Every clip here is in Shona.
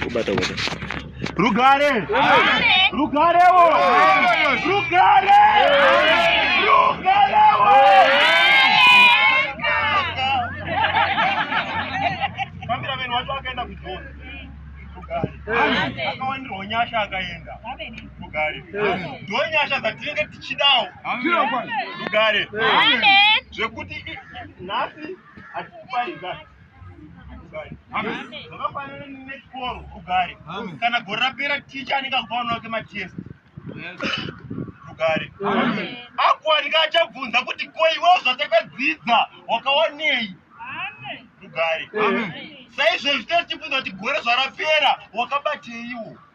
Kubata kubata. Rugare! Rugare wo! Rugare! Rugare wo! Cameraman wacho akaenda kuJohn. Rugare. Akawandirwa nyasha akaenda. Rugare. Ndiwo nyasha dzatinenge tichidawo. Rugare. Zvekuti nhasi hatikupai gari zvakafanana nechikoro rugare kana gore rapera ticha anenge akuvaona wake matest rugare akuwanika achabvunza kuti koiwe zvatakadzidza wakawanei rugare saizvozvi tachibvunza kuti gore zvarapera wakabateiwo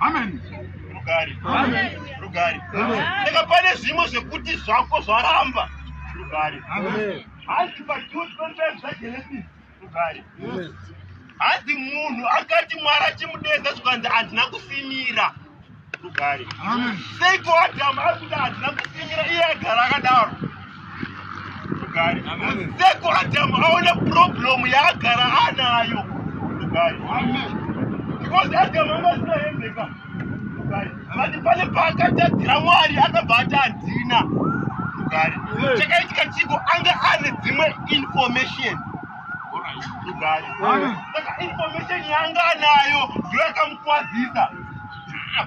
Amen. Rugari. Amen. Rugari. Amen. Saka pane zvimwe zvekuti zvako zvaramba. Rugari. Amen. Hanzi paJude 25 zvaGenesis. Rugari. Amen. Hanzi munhu akati Mwari achimudedza zvikanzi handina kusimira. Rugari. Amen. Seiko Adamu ari kuti handina kusimira iye agara akadaro. Seko Adamu aona problem yaagara anayo. Because Adamu anga asina hembe ka. Vati pane paakatadzira Mwari akabva ati handina. Chakaitika chiko anga ane dzimwe information. Saka information yaanga anayo ndiyo yakamukwazisa. Ah,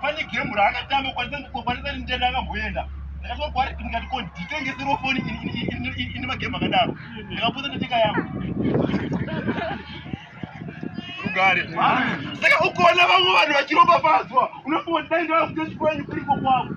pane gemu raakatamba kwanisa nditenda akamboenda ndakasvika kwaari ndikati ko nditengeserwo foni ine magemu akadaro ndikapotsa ndotenga yangu rugare saka ukaona vamwe vanhu vachiropafadzwa unofunga kuti dai ndavakutochikwenyu kuriko kwavo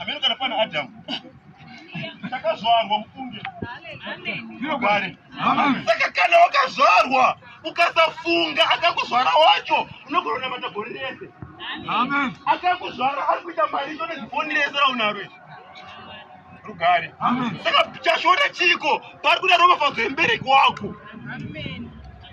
Ameno kana pana Adam. Takazvarwa mufunge. Zvinogware. Saka kana wakazvarwa ukasafunga akakuzvara wacho unogona kunamata gore rese. Amen. Akakuzvara ari kuita mari icho nezifoni rese raunaro izvi. Rugare. Amen. Saka chashona chiko pari kuda ropafadzo yembereki wako. Amen.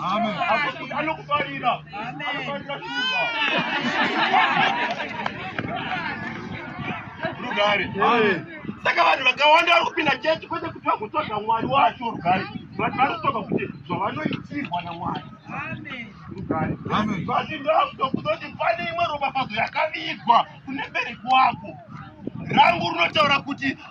Amen. Anokufarira. Amen. Anofarira shuva. Rugare. Amen. Saka vanhu vakawanda vari kupinda chechi kwete kuti vagotsvaga Mwari wacho rugare. Vanhu vanotsvaga kuti zvavanoitirwa naMwari. Amen. Rugare. Amen. Vati ndakutokuzoti pane imwe ropafadzo yakavigwa kune bereki wako. Rangu rinotaura kuti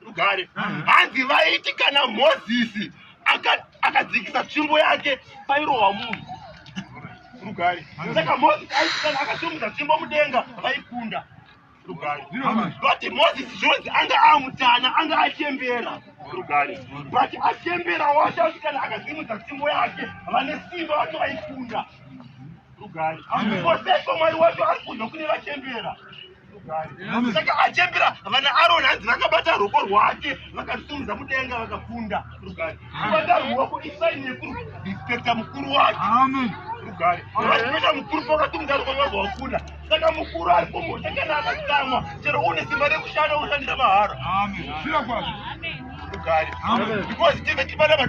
rugare hanzi vaiti kana mozisi akadzikisa tsvimbo yake pairohwa munhu rugare saka mozisi aiti kana akasimudza tsvimbo mudenga vaikunda rugare but mozisi zvonzi anga amutana anga achembera rugare but achembera wacho asi kana akasimudza tsvimbo yake vane simba vacho vaikunda Koseso mwari wacho ari kunzwa kune vachembera saka achembera vana aroni hanzi vakabata ruoko rwake vakarusimudza mudenga vakakunda rugare kubata ruoko isaini yekurespecta mukuru wake rugare vaipeta mukuru pakatumudza ruoko vabva vakunda saka mukuru ari kumhosha kana akatsamwa chero une simba rekushanda ushandira mahara rugare because tive tipana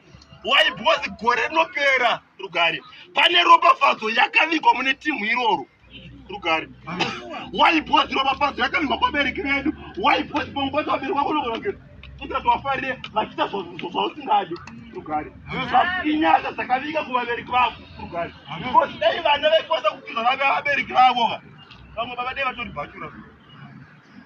why because gore rinopera rugare pane ropafadzo yakavigwa mune timu iroro rugare why because ropafadzo yakavigwa kwabereki vedu why because panguva dzavabereka kunokonakira usati wafarire vachiita zvausingadi rugare inyasha dzakavika kuvabereki vavo rugare because dai vana vaikwanisa kukuza vave vabereki vavo vamwe baba dai vatori bhachura